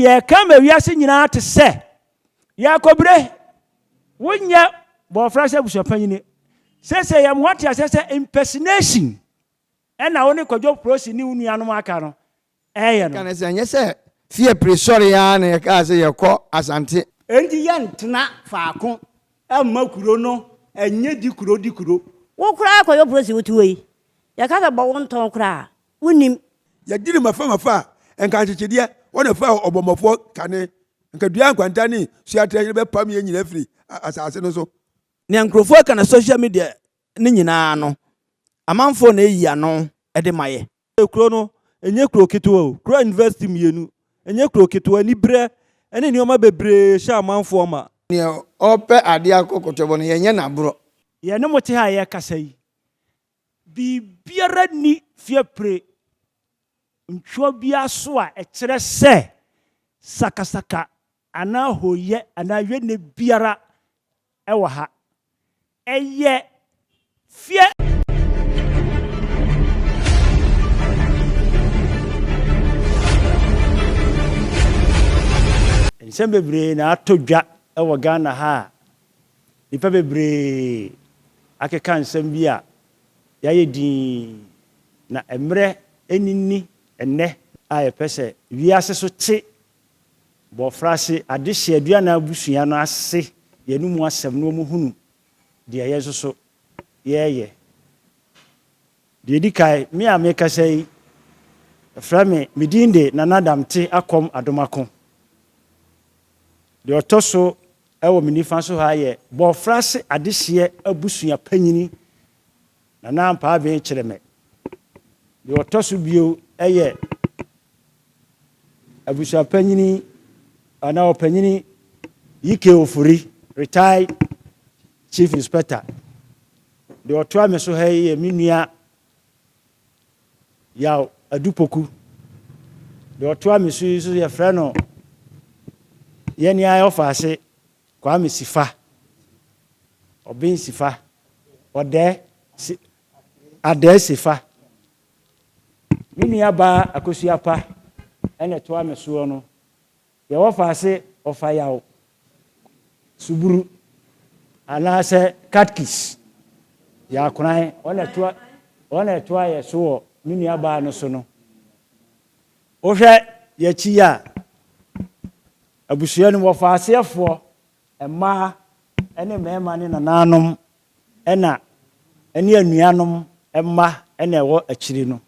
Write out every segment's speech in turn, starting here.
Yɛreka ma wiase nyinaa te sɛ, Yɛakɔbire! Wonyɛ bɔɔfra sɛ abusuapanyini. Seesei yɛn ho ate aseɛ sɛ impersonation ɛna wo ne Kwadwo Prossy ne wo nuanom a aka no ɛreyɛ no. Ka no sɛ ɛnyɛ sɛ fie pire sɔree ara na yɛkaa sɛ yɛrekɔ Asante. Enti yɛntena faako mma kuro no ɛnyɛ di kuro di kuro. Wo koraa Kwadwo Prossy wote hɔ yi, yɛka sɛ bɔ wo ntɔn koraa a, wonim. Yɛgye no mafamafa a, nka nkyekyedeɛ wɔ ne faa ɔbɔmmɔfoɔ kane, nka dua nkwanta ne suaterɛ no bɛpam yɛn nyinaa afiri asase no so. Nea nkurɔfoɔ reka no social media no nyinaa no, amanfoɔ na ɛyi ano de ma yɛ. Kuro no nyɛ kuro ketewa o, kura university mmienu, ɛnyɛ kuro ketewa, aniberɛ ne nneɛma bebree hyɛ amanfoɔ ma. Nea ɔrepɛ adeɛ akɔ kɔtɔbɔ no, yɛnyɛ no aborɔ. Yɛne mo te ha a yɛrekasa yi, Biribiara nni fiapre ntweɔn biara so a ɛkyerɛ sɛ sakasaka anaa hooyɛ anaa yɛnnɛ biara wɔ ha. Ɛyɛ fia. Nsɛm bebree na atɔ dwa wɔ Ghana ha a Nnipa bebree akeka nsɛm bi a yɛayɛ dinn, na mmerɛ ani nni ɛnnɛ a yɛpɛ sɛ wiase so te bɔfrase adehyeɛ aduanan abusua no ase yɛn mu asɛm na wɔhunu deɛ yɛn nso so yɛreyɛ. Deɛ ɛdi kan, me a merekasa yi, wɔfrɛ me, me din de Nana Damte Akɔm Adomako. Deɛ ɔtɔ so wɔ me nifa so ha yɛ Bɔɔfrase Adehyeɛ Abusua Panyini, Nana Ampaa Bee Kyeremɛ. Deɛ ɔtɔ so bio yɛ Abusua Panyini anaa Ɔpanyini Yike Ofori, Retired Chief Inspector. Deɛ ɔtoa me so ha yi yɛ me nua Yaw Adu Poku. Deɛ ɔtoa me so yi nso yɛfrɛ no yɛn ara ɔfaase Kwame Sifa, Ɔben Sifa, Ɔdɛ si, Adɛɛ Sifa. Me nua baa Akosua Pa ɛna ɛtoa me soɔ no. Deɛ wɔfa ase ɔfa yaw, suburu, anaasɛ katkis yɛ akoran wɔn na ɛtoa wɔn na ɛtoa yɛ so wɔ ne nua baa no so no. Wohwɛ yɛ akyi yi a, abusua no mu ɔfa aseɛ foɔ, mmaa ɛne mmarima ne nanaanom ɛna ɛne anuanom mma ɛna ɛwɔ akyiri no.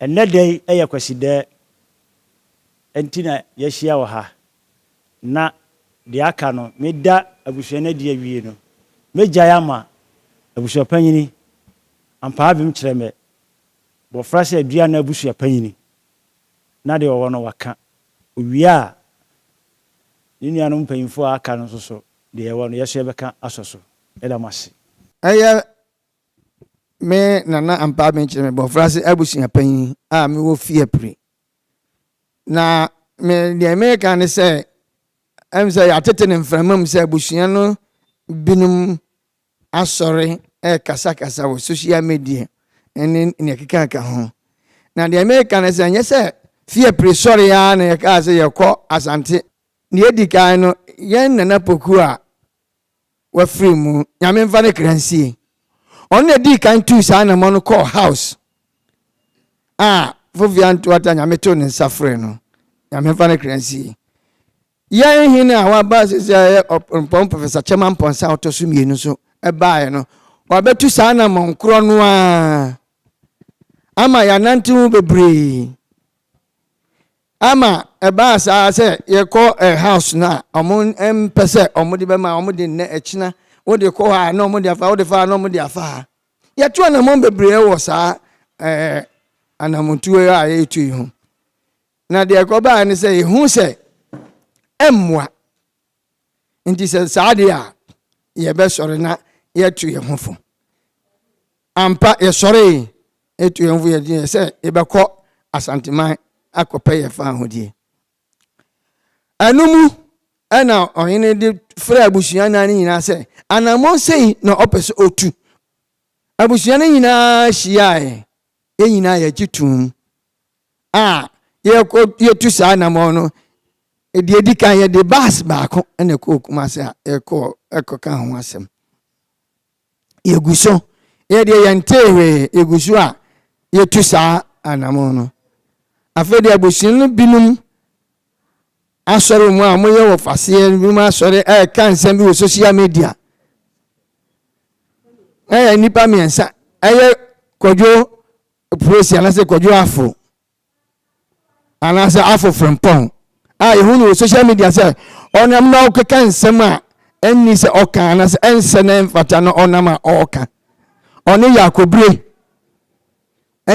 Ɛnnɛ da yi ɛyɛ Kwasidɛɛ. Nti na yɛahyia wɔ ha, na deɛ aka no, meda abusua no adi awie no, mɛgyae ama abusuapanyini Ampaavem Kyerɛmɛ, Bɔfra sɛ adua anaa abusuapanyini, na deɛ ɔwɔ no waka. Ɔwie a, ne nuanom mpanyimfoɔ a aka no nso so, deɛ yɛwɔ no, yɛn nso yɛbɛka asɔ so. Meda mo ase. Ɛyɛ me Nana Ampaavem Kyerɛmɛ, Bɔfra sɛ abusuapanyini a mewɔ Fiapre, Na me deɛ meka ne sɛ ɛm sɛ yɛatete no mframa mu sɛ abusua no binom asɔre ɛrekasakasa wɔ social media ne nea ɛkekaka ho na deɛ meka ne sɛ ɛnyɛ sɛ fie pere sɔre ara na yɛkaa sɛ yɛkɔ asante deɛ ɛdi kan no yɛn nana poku a wafiri mu nyame nfa ne kra nsie ɔno na ɛdii kan tuu saa anamɔ no kɔɔ house a fofia ntoata nyame too ne nsa free no nyame nfa ne kra nsie yɛn hene a waba sisi a ɛyɛ ɔpɔn professor kyɛma mpɔnsa a ɔtɔ so mmienu so ɛbaeɛ no wabɛtu saa anamɔ nkorɔ no a ama yɛanante ho bebree Ama ɛbaa saa sɛ yɛkɔ house no a wɔn mpɛ sɛ wɔde bɛma wɔn de nnɛ ɛkyena wode kɔ hɔ a na wɔn de afa wode fa a na wɔn de afa ha. Yɛtu anamɔn bebree wɔ saa ɛɛ anamotuo a yɛretu yi ho. Na deɛ ɛkɔbaa ne sɛ yɛhu sɛ ɛmmoa. Enti sɛ saa deɛ a, yɛbɛsɔre na yɛatu yɛn ho fo. Ampa, yɛsɔree, yɛtu yɛn ho fo, yɛde yɛ sɛ yɛbɛkɔ Asanteman akɔpɛ yɛn fawohodie. Ɛno mu ɛna ɔhene de frɛ abusua nnan no nyinaa sɛ, anammɔn sei na ɔpɛ sɛ ɔtu. Abusua no nyinaa hyiaeɛ, yɛn nyinaa yɛgye toom a yɛkɔ yɛtu saa anamɔn no deɛ edi kan yɛde baas baako na ɛkɔɔ kumase a yɛkɔɔ ɛkɔka ho asɛm yɛgu so yɛdeɛ yɛntee hwee yɛgu so a yɛtu saa anamɔn no afei deɛ abusua no binom asɔre mu a wɔyɛ wɔ faseɛ binom asɔre ɛka nsɛm bi wɔ social media ɛyɛ nnipa mmiɛnsa ɛyɛ kwadwo Prosi anaasɛ Kwadwo Afo anaasɛ Afo Frimpong a yɛhu no wɔ social media sɛ ɔnam na ɔkeka nsɛm a ɛnni sɛ ɔka anaasɛ ɛnsɛ na ɛmfata na ɔnam a ɔreka. Ɔne Yakobire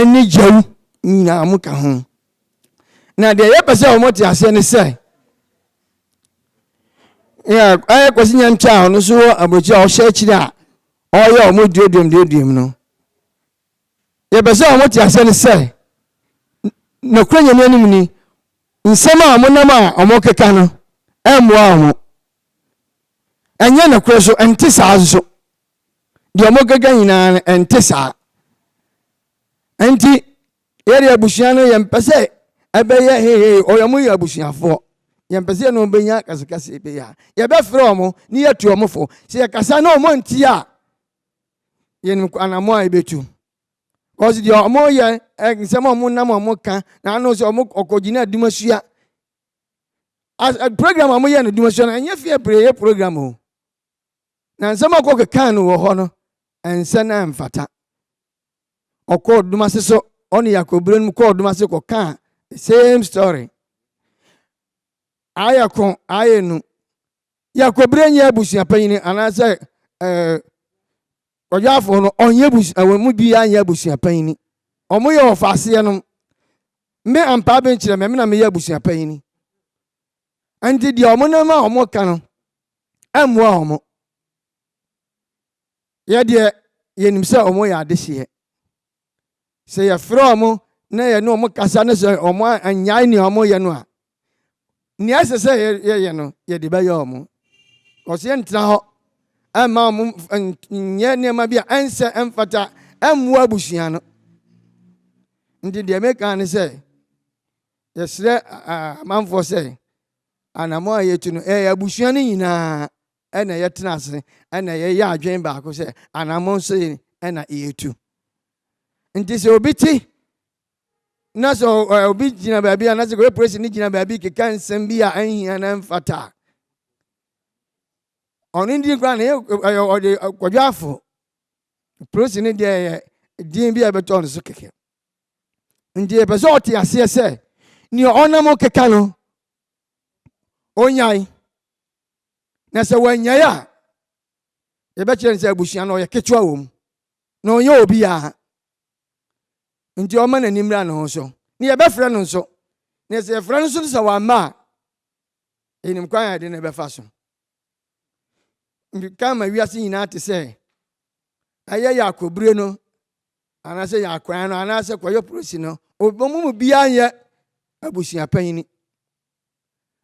ne Gyawu nyinaa mo ka ho. Na deɛ yɛpɛ sɛ wɔn te aseɛ ne sɛ ayɛ kwasi nyɛnkyɛ a ɔno nso wɔ aburokyi a ɔhyɛ akyire a ɔyɛ wɔn duoduom duoduom no Yɛpɛ sɛ wɔn te aseɛ ne sɛ, nokorɛ Nyame anim ni, nsɛm a wɔn nam a wɔn keka no ɛmmoa wɔn, ɛnyɛ nokorɛ so, ɛnte saa nso, deɛ wɔn keka nyinaa no ɛnte saa. Ɛnti, yɛde abusua no yɛn pɛ sɛ ɛbɛyɛ hehe, ɔyɛ wɔn yɛ abusuafoɔ, yɛn pɛ sɛ yɛn wɔn bɛnya kasikasi bɛyɛ a, yɛbɛfrɛ wɔn ne yɛtu wɔn fo, sɛ yɛkasa na wɔn nti a, yɛnim anamɔ a yɛbɛtu kɔsi deɛ ɔmo yɛ nsɛm a ɔmo nam ɔmo ka na ano sɛ ɔmo ɔkɔgyina adumasua as eh, program a ɔmo yɛ no adumasua no ɛnyɛ fie pere yɛ program o na nsɛm a ɔkɔ kekan no wɔ hɔ no ɛnsɛ na ɛmfata ɔkɔ ɔdumase so ɔne yakɔbere no mu kɔ ɔdumase kɔka same story ayɛ ko ayɛ nu Yɛakɔbire nyɛ abusua panyin anaasɛ ɔyaafoɔ no ɔnyɛ abusua wɔn mu biara nyɛ abusua panyin. Wɔn yɛ ɔfaaseɛ nom. Me ampaa bi nkyerɛ me, me na meyɛ abusua panyin. Nti deɛ wɔn nam a wɔn ka no ɛmmoa wɔn. Yɛ deɛ yɛnim sɛ wɔn yɛ adehyeɛ. Sɛ yɛfrɛ wɔn na yɛne wɔn kasa na sɛ wɔn annyae nea wɔyɛ no a, nea ɛsɛ sɛ yɛyɛ no, yɛde bɛyɛ wɔn. Wɔsɛ yɛntena hɔ ɛmma wɔn nyɛ nneɛma bi a ɛnsɛ ɛmfata ɛmmoa abusua no. Nti deɛ meka ne sɛ, yɛsrɛ amanfoɔ sɛ, anamɔ a yɛtu no ɛyɛ abusua no nyinaa ɛna yɛtena ase ɛna yɛyɛ adwene baako sɛ anammɔn sei ɛna yɛtu nti sɛ obi te na sɛ obi gyina baabi a na sɛ kɔyɛ polisi no gyina baabi keka nsɛm bi a ɛnhia na ɛmfata a ɔno ndi koraa na ɛyɛ ɔde kɔdwaafo polisi no deɛ ɛyɛ din bi a ɛbɛtɔ no so kɛkɛ nti ɛpɛ sɛ ɔte aseɛ sɛ nea ɔnam keka no onyae na sɛ wɔanyae a yɛbɛkyerɛ no sɛ abusua no ɔyɛ ketewa wɔ mu na ɔnyɛ obiara nti ɔma n'ani mmra ne ho so na yɛbɛfrɛ no nso na sɛ yɛfrɛ no nso no sɛ wamma a yɛnim kwan a yɛde no bɛfa so ka ma wiase nyinaa te sɛ ɛyɛ yɛ akɔbire no anaasɛ yɛ akwan no anaasɛ kɔyɛ polisi no ɔbɛmu mu biara nyɛ abusua panyini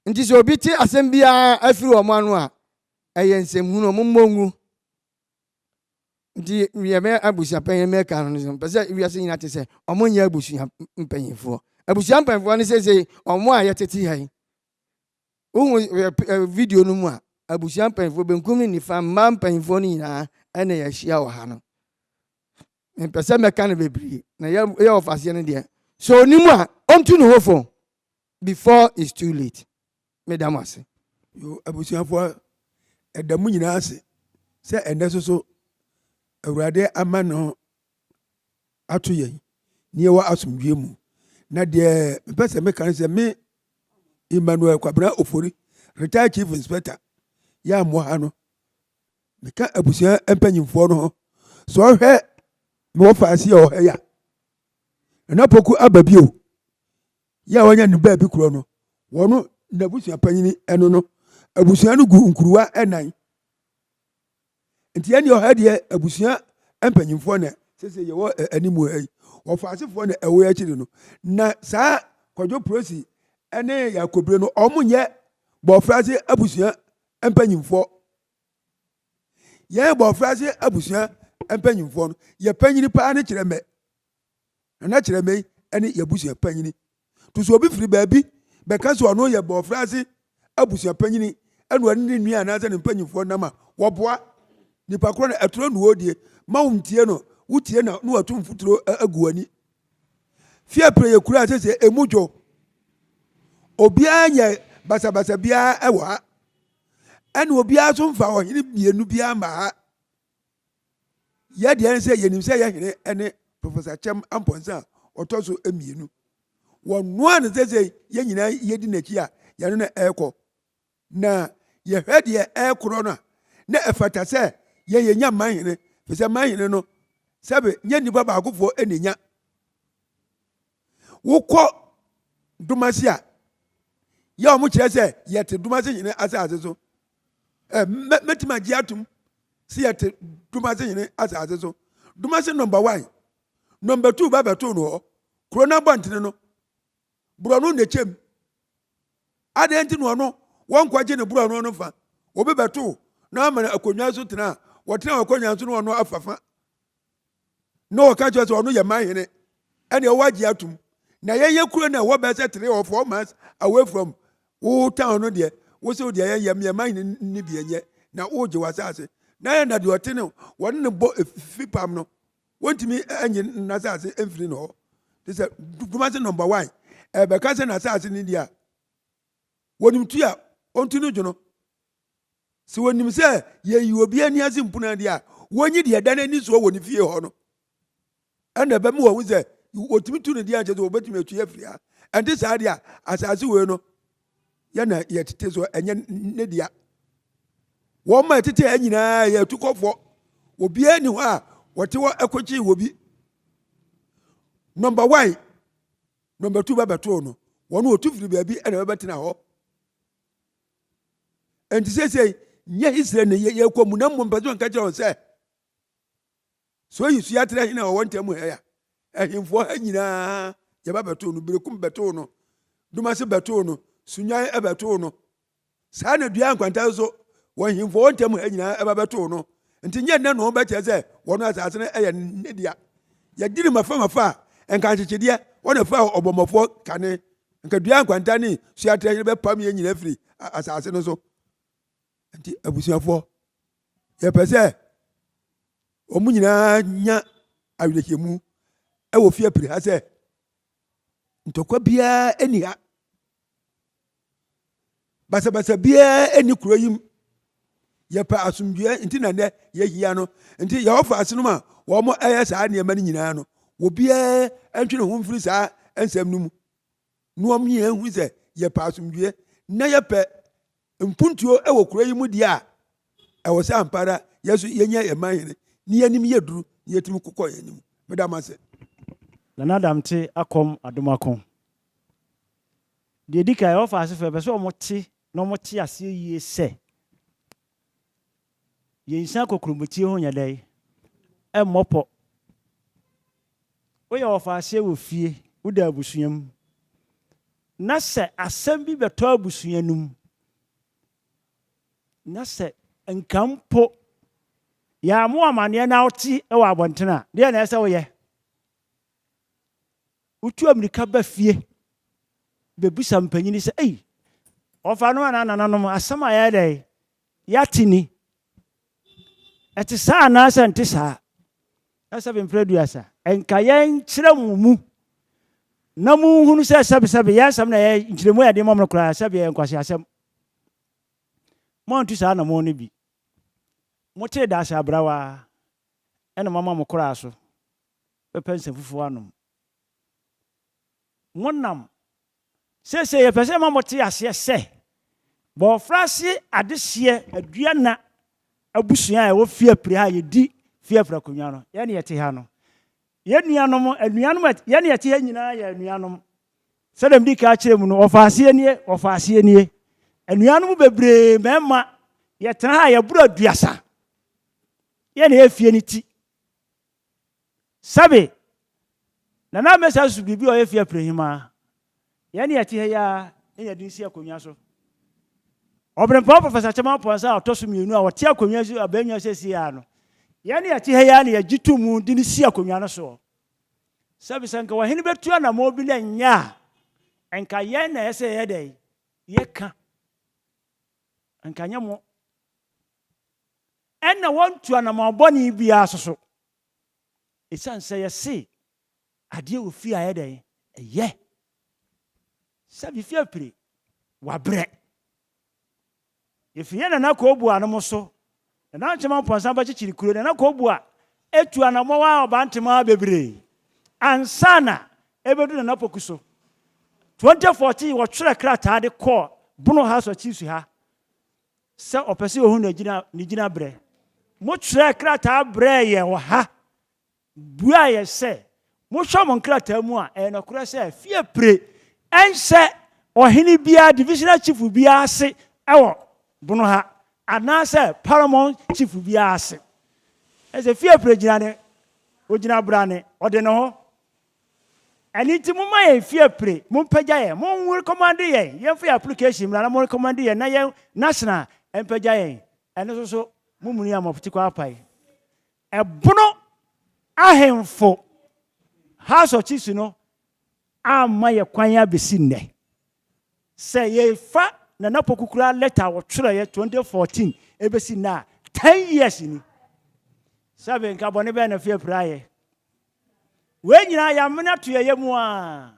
Nti sɛ obi te asɛm biara afiri wɔn ano a, ɛyɛ nsɛmhunu, wɔn mmɔ ngu. Nti yɛbɛ abusua panyin mɛka no nso pɛ sɛ wiase nyinaa te sɛ wɔn nyɛ abusua mpanyinfoɔ. Abusua mpanyinfoɔ no sese wɔn a yɛtete ha yi. Wohu ɛ video no mu a abusua mpanyinfoɔ benkum ne nifa mmaa mpanyinfoɔ no nyinaa ɛna yɛahyia wɔ ha no. Mpɛ sɛ mɛka no bebree na yɛ yɛ ɔfaseɛ no deɛ. So onim a ɔntu ne ho fo. before it's too late meda mo ase. Yoo abusuafoɔ ɛda mo nyinaa ase sɛ ɛnɛ soso Awurade ama no ato yɛn ne yɛwɔ asomdwie mu na deɛ mepɛ sɛ meka ne sɛ me Emmanuel Kwabena Ofori retired chief inspector yɛ amoa ha no meka abusua mpanyimfoɔ no ho sɛ ɔhwɛ mewɔ faase a ɔhɛ ya Nana Poku aba bio Yɛ a wɔanya no baabi korɔ no, wɔn n'abusua panyin no no abusua no gu nkuruwa nnan. Nti ɛne ɔha deɛ abusua mpanyinfoɔ na sese yɛwɔ anim ha yi wɔfa asefoɔ na ɛwɔ akyiri no na saa kwadwo prosi ne yakobire no wɔn nyɛ bɔfrase abusua mpanyinfoɔ yɛn bɔfrase abusua mpanyinfoɔ no yɛ panyin paa ne kyerɛ mɛ Nana Kyerɛmei ne yɛabusua panyini. To so obi firi baabi bɛka sɛ ɔno yɛ bɔɔfrɛ ase abusua panyini ɛna ɔne ne nua anaasɛ ne mpanyinfoɔ nam a, wɔboa. Nipa korɔ no ɛtorɔ nuo die, ma wo ntie no, wo tie na ne wato mfuturo agu w'ani. Fie pere yɛ kura sɛ sɛ emu dwo. Obiara nyɛ basabasa biara ɛwɔ ha. Ɛne obiara so mfa ɔhene mmienu biara mma ha. yɛ deɛ sɛ yɛnim sɛ yɛ hene ne professor kyɛm ampɔnsa a ɔtɔ so mmienu wɔnoa no sɛ sɛ yɛn nyinaa yɛdi n'akyi a yɛne no ɛrekɔ na yɛhwɛ deɛ ɛrekorɔ no a na ɛfata sɛ yɛn yɛnya man hene firi sɛ man hene no sɛbe nyɛ nnipa baakofoɔ ɛna nya wokɔ domase a yɛ wɔn kyerɛ sɛ yɛte domase hene asase so ɛ mɛtumi agye atum sɛ yɛte domase hene asase so domase nɔmba wan nɔmba tuu ba bɛtoo no hɔ kuro no abɔntene no borɔno na ɛkyɛm adeɛ nti na ɔno wɔnkɔgye ne borɔno no fa obi bɛtoo na ama akonnwa so tena a wɔtena akonnwa so na ɔno afafa na ɔka kyerɛ sɛ ɔno yɛ man hene ɛne ɔwɔ agye atom na yɛyɛ kuro no ɛwɔ bɛɛ sɛ three or four months away from wo town no deɛ wo sɛ wodeɛ yɛyɛ meɛ man hene ne bi ɛnyɛ na wogye w'asase na yɛ na deɛ ɔte no wɔne no bɔ efifi pam no wɔntumi ɛnye n'asase ɛmfiri no hɔ te sɛ dwuma sɛ number one ɛbɛka sɛ n'asase ne deɛ a wɔnim tu a ɔntu no dwono Sɛ wɔnim sɛ yɛyi obi ani ase mpuna deɛ a, wɔnyi deɛ ɛda n'ani soɔ wɔ ne fie hɔ no. Ɛna ɛbɛma wɔahu sɛ wɔtumi tu no deɛ ankyɛ sɛ wɔbɛtumi atwi afiri ha. Ɛnte saa deɛ a, asase wei no yɛna yɛtete so ɛnyɛ ne dea. Wɔn ma ɛtete ha nyinaa yɛ atukɔfoɔ. Obiara ni hɔ a wɔte hɔ ɛkɔkyee wɔ bi. Nɔmba wan, nɔmba tu bɛbɛtoo no. Wɔn wɔtu firi baabi ɛna bɛbɛtena hɔ. ɛnti seesei nyɛ hisire ne yɛkɔ mu na mmom mpɛ sɛ ɔnka kyerɛ wɔn sɛ so yi so yɛatrɛ hene a ɔwɔ ntam ha ya ahemfoɔ ha nyinaa yɛba bɛtoo no berekum bɛtoo no dumase bɛtoo no sunyan bɛtoo no saa na dua nkwanta so wɔn ahemfoɔ wɔ ntam ha nyinaa ɛba bɛtoo no nti nyɛ nnɛ na wɔbɛkyerɛ sɛ wɔn asase no yɛ ne dea yɛdi ne mafa mafa a nka nkyekyedeɛ wɔn afa ɔbɔmmɔfoɔ kane Nka dua nkwanta ne su atrɛhye no bɛpam yɛn nyinaa firi asase no so. Nti abusuafoɔ, yɛpɛ sɛ wɔn nyinaa nya awerɛhyɛmu wɔ fie apiri ha sɛ ntɔkwa biara nni ha. basabasa biara nni kuro yi mu yɛpɛ asomdwoeɛ nti na nnɛ yɛhia no nti yɛwɔfa ase nom a wɔn ɛyɛ saa nneɛma no nyinaa no obiara ntwe ne ho mfiri saa nsɛm no mu na wɔn nyinaa hu sɛ yɛpɛ asomdwoeɛ na yɛpɛ mpuntuo wɔ kuro yi mu deɛ a ɛwɔ sɛ ampa ara yɛ so yɛnya yɛn man hene ne yɛnim yɛ duru ne yɛtumi kokɔ yɛn anim meda mo ase nana damte akɔm adomako Deɛ ɛdi kan, Yehova asefo, yɛpɛ sɛ wɔte na wɔte aseɛ yie sɛ yɛnsan kokurobɔtie ho nyɛ dɛn? Ɛmmɔ pɔ. Woyɛ ɔfaaseɛ wɔ fie, woda abusua mu, na sɛ asɛm bi bɛtɔ abusua no mu, na sɛ nka mpo yɛamo amanneɛ na wote wɔ abɔnten a, deɛ na ɛsɛ woyɛ? Wotu amirika ba fie bebisa mpanyin sɛ, Ei, wɔfa no anaa nananom? Asɛm a yɛayɛ dɛn? Yɛate ni. Ɛte saa anaasɛ nte saa? Ɛsɛbe mprɛ aduasa. Ɛnka yɛnkyerɛ mo mu na munhunu sɛ sɛbesɛbe yɛn asɛm na ɛyɛ nkyerɛmu a yɛde ma mo no koraa sɛbe ɛyɛ nkwaseasɛm. Moantu saa anammɔn no bi. Motee daase abrawa, ɛna moama mo koraa so. bɛpɛ nsɛmfufo anom. Monam seesei yɛpɛ sɛ yɛma mote aseɛ sɛ Bɔɔfrase adehyeɛ aduanna abusua a ɛwɔ Fiapre ha a yɛdi Fiapre akonnwa no, yɛn na yɛte ha no. Yɛn nuanom, anuanom a yɛn na yɛte ha nyinaa yɛ anuanom. Sɛdeɛ mede ka akyerɛ mu no, wɔfa aseɛ nie, wɔfa aseɛ nie. Anuanom bebree mmarima, yɛtena ha a yɛboro aduasa. Yɛn na yɛyɛ fie no ti. Sɛbe, Nana Mensah susu biribi a ɔyɛ fi apirehyim ara. Yɛn a yɛte ha yi ara na yɛde no si akonnwa so. Ɔberempɔn Professor Kyɛman Pɔnsa a ɔtɔ so mmienu a ɔte akonnwa so abannwa seesei ara no, yɛn a yɛte ha yi ara na yɛgye to mu de no si akonnwa no soɔ. Sɛbe, sɛ nka ɔhene bɛtu anammɔn bi na ɛnyɛ a, nka yɛn na ɛyɛ sɛ yɛyɛ dɛn? Yɛka. Nka nyɛ mo. Ɛnna wɔntu anammɔn bɔne biara nso so. Esiane sɛ yɛse adeɛ a ofie a ɛyɛ dɛn? Ɛyɛ sɛ fifie apire, wabrɛ. Yɛfiri yɛn Nana Kooboa nom so. Nana Nkyema Mpɔnsa Bakyekyere Kuro, Nana Kooboa atu anammɔn a Ɔbantemaa bebree ansa na ɛbɛdu Nana Poku so. 2014 wɔtwerɛ krataa de kɔɔ Bono House Akyiri Suha sɛ ɔpɛ sɛ ohu ne gyinabrɛ. Mokyerɛɛ krataa brɛɛ yɛn wɔ ha buaa yɛn sɛ mohwɛ mo nkrataa mu a, ɛyɛ nokorɛ sɛ fie pire nhyɛ ɔhene biara, divisional chief biara ase wɔ bono ha anaasɛ paramount chief biara ase. Ɛsɛ fie pire gyina ne, ogyina brane, ɔde ne ho Ɛno nti momma yɛn mfi apire, mompagya yɛn, morekɔmande yɛn, yɛmfa yɛn application mmra na morekɔmande yɛn na yɛn national mpagya yɛn, ɛno nso so momuni a mofte kɔ apae. Ɛbono ahemfo House of Chiefs no amma yɛ kwan a bɛsi nnɛ. Sɛ yɛfa Nana Poku koraa lɛta a wɔtwerɛeɛ 2014 ɛbɛsi nnɛ a, 10 years ni. Sɛbe nka bɔne bɛn na fi apire ayɛ? Wei nyinaa yɛamene ato yɛn yam aa,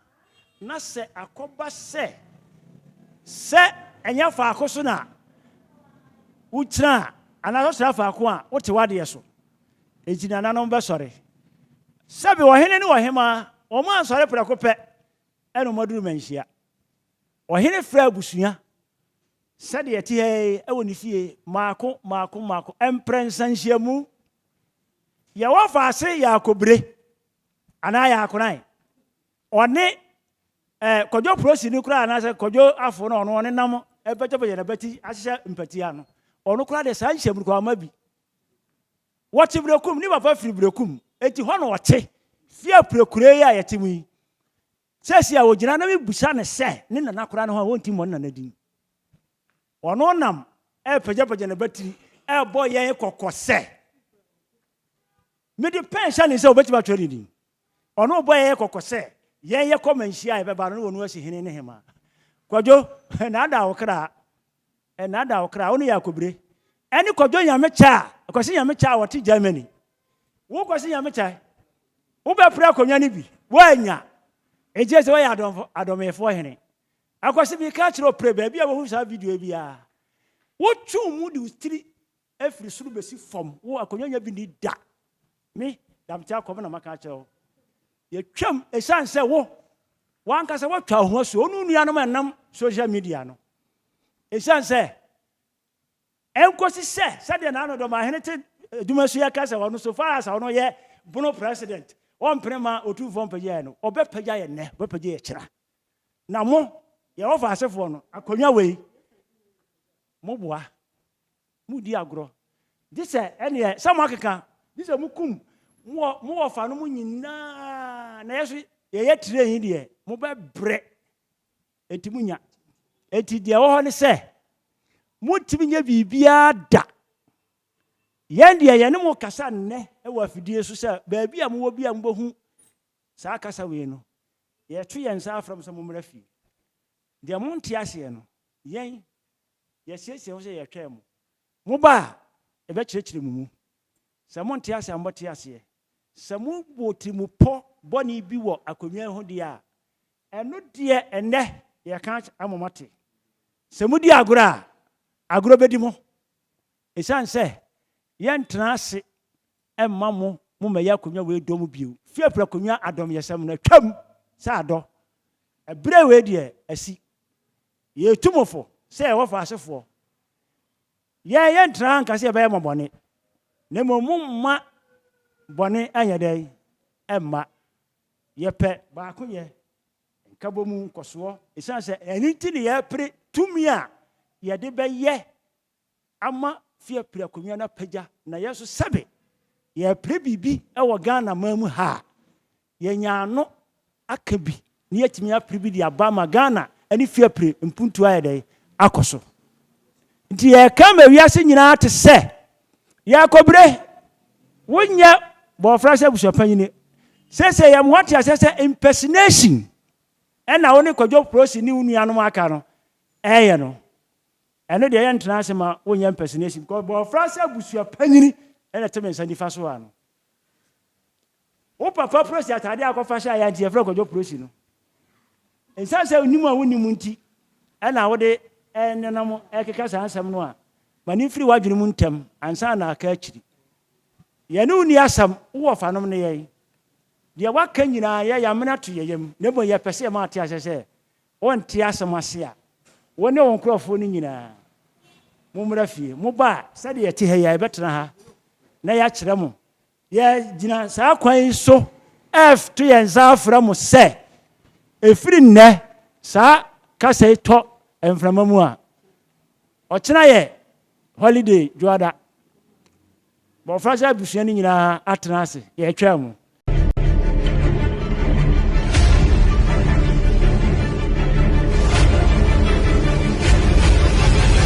na sɛ akɔba sɛ sɛ ɛnyɛ faako so na wogyina a, anaasɛ wosra faako a, wote w'adeɛ so. Enti nananom bɛsɔre. Sɛbe ɔhene ne ɔhemaa, wɔn ansɔre prɛko pɛ ɛna wɔn aduru manhyia. Ɔhene frɛ abusua sɛdeɛ ɛte ha yi ɛwɔ ne fie, mmaako mmaako mmaako, mprɛnsa nhyiamu. Yɛwɔ faase Yaakobire anaa Yaakonan. Ɔne eh, Kwadwo Prosi no koraa anaasɛ Kwadwo Afo no ɔno ɔne nam ɛpɛkyɛpɛkyɛ na bɛti ahyehyɛ mpati ano. Ɔno koraa deɛ saa nhyɛmurukwama bi. Wɔte Berekum, ne papa firi Berekum. Enti hɔ na ɔte. Fie apirakura yi a yɛte mu yi, Seesei a ogyina na mibisa no sɛ ne nana koraa ne hɔ a ɔnte mmɔ ne nana din. Ɔno nam repagyapagya n'abatiri rebɔ yɛn kɔkɔ sɛ, Mede pɛn hyɛ ne nsa a obetumi atwerɛ ne din. Ɔno rebɔ yɛn kɔkɔ sɛ yɛn yɛkɔ ma nhyia a ɛbɛba no na ɔno asi hene ne hemmaa. Kwadwo, nnaadaa wo kra, nnaadaa wo kra, wo ne Yakobire, ɛne Kwadwo Nyamekyɛ a, Kwasi Nyamekyɛ a ɔte Germany Wokɔ so nyame kyɛ. Wobɛpere akonnwa no bi, woannya. Egye sɛ woyɛ adɔmfo, adɔmeefoɔ hene. Akɔsi bi ka kyerɛ ɔpere baabi a wohu saa video yi biara. Wotwe wo mu de wo tiri firi soro bɛsi fam, wo akonnwa nya bi ni da. Me, Damte Akɔm na maka akyerɛ wo. Yɛtwam ɛsiane sɛ wo, wankasa watwa wo ho asuo, wo ne wo nuanom ɛnam social media no. Ɛsiane sɛ Ɛnkosi sɛ, sɛdeɛ n'ano dɔ ma hene te adwuma so yɛ ka sɛ ɔno so far as ɔno yɛ bono president ɔmpene mma otumfoɔ mpagya yɛn no, ɔbɛpagya yɛn nnɛ, ɔbɛpagya yɛn kyena. Na mo, Yehofa asefoɔ no, akonnwa wei, mo boa, mo di agorɔ, gye sɛ, ɛnneɛ, sɛ mo akeka, gye sɛ mo kum mo wɔ, mo wɔfa no mo nyinaa, na yɛ so yɛyɛ tire yi deɛ, mo bɛbrɛ. Enti munnya. Enti deɛ ɛwɔ hɔ ne sɛ, montumi nyɛ biribiara da. Yɛn deɛ, yɛne mo rekasa nnɛ wɔ afidie so sɛ baabi a mowɔ biara mobɛhu saa kasa wei no, yɛto yɛn nsa frɛ mo sɛ mommra fie. Deɛ monte aseɛ no, yɛn, yɛasiesie ho sɛ yɛretwɛn mo. Moba a, yɛbɛkyerɛkyerɛ mo mu. Sɛ monte aseɛ a, mobɛte aseɛ. Sɛ mobɔ tirimupɔ bɔne bi wɔ akonnwa yi ho deɛ a, ɛno deɛ ɛnnɛ yɛka ama moate. Sɛ modi agorɔ a, agorɔ bɛdi mo. Ɛsiane sɛ yɛntena ase mma mo mommɛyɛ akonnwa wei dɔ mu bio. Fiafia akonnwa adɔmyɛsɛm no atwam sɛ adɔ. Ɛberɛ wei deɛ asi. Yɛtu mo fo sɛ yɛwɔ faasefoɔ. Yɛn, yɛntena ha nka sɛ yɛbɛyɛ mo bɔne, na mmom momma bɔne nyɛ dɛn? Mma. Yɛpɛ baakoyɛ, nkabɔmu, nkɔsoɔ, ɛsiane sɛ ɛno nti ne yɛpere tumi a yɛde bɛyɛ ama Fiapre akonnwa no apagya, na yɛn nso sɛbe yɛpere biribi wɔ Ghana man mu ha a, Yɛanya ano aka bi na yɛatumi apere bi de aba ama Ghana ne fie apire mpuntuo ayɛ dɛn? Akɔ so. Nti yɛreka ama wiase nyinaa ate sɛ, Yɛakɔbire, wonyɛ bɔɔfra sɛ abusuapanyini. Seesei yɛn ho ate aseɛ sɛ impersonation ɛna wo ne Kwadwo Prossy ne wo nuanom a aka no ɛreyɛ no. Ɛno deɛ yɛntena ase ma wonyɛ impersonation because bɔɔfra sɛ abusuapanyini ɛna ɛte me nsa nifa so ha no. Wo papa prosi atade a akɔfa hyɛ a yɛn nti yɛfrɛ no kwadwo prosi no. Nsan sɛ onim a wonim nti ɛna wode ɛnenam ɛkeka saa nsɛm no a ma ne mfiri w'adwene mu ntɛm ansa na aka akyiri. Yɛne wo ni asɛm wowɔ fanom ne yɛn. Deɛ waka nyinaa yɛ yamena to yɛ yam na mmom yɛpɛ sɛ yɛma ate aseɛ sɛ Wɔnte asɛm ase a, wo ne wo nkurɔfoɔ no nyinaa, mommra fie. Moba a, sɛdeɛ yɛte ha yi ara, yɛbɛtena ha na yɛakyerɛ mo. Yɛgyina saa kwan yi so reto yɛn nsa afrɛ mo sɛ, ɛfiri nnɛ, saa kasa yi tɔ mframa mu a, ɔkyena yɛ holiday, dwoada. Mmɔfra sɛ abusua no nyinaa atena ase. Yɛretwaa mu.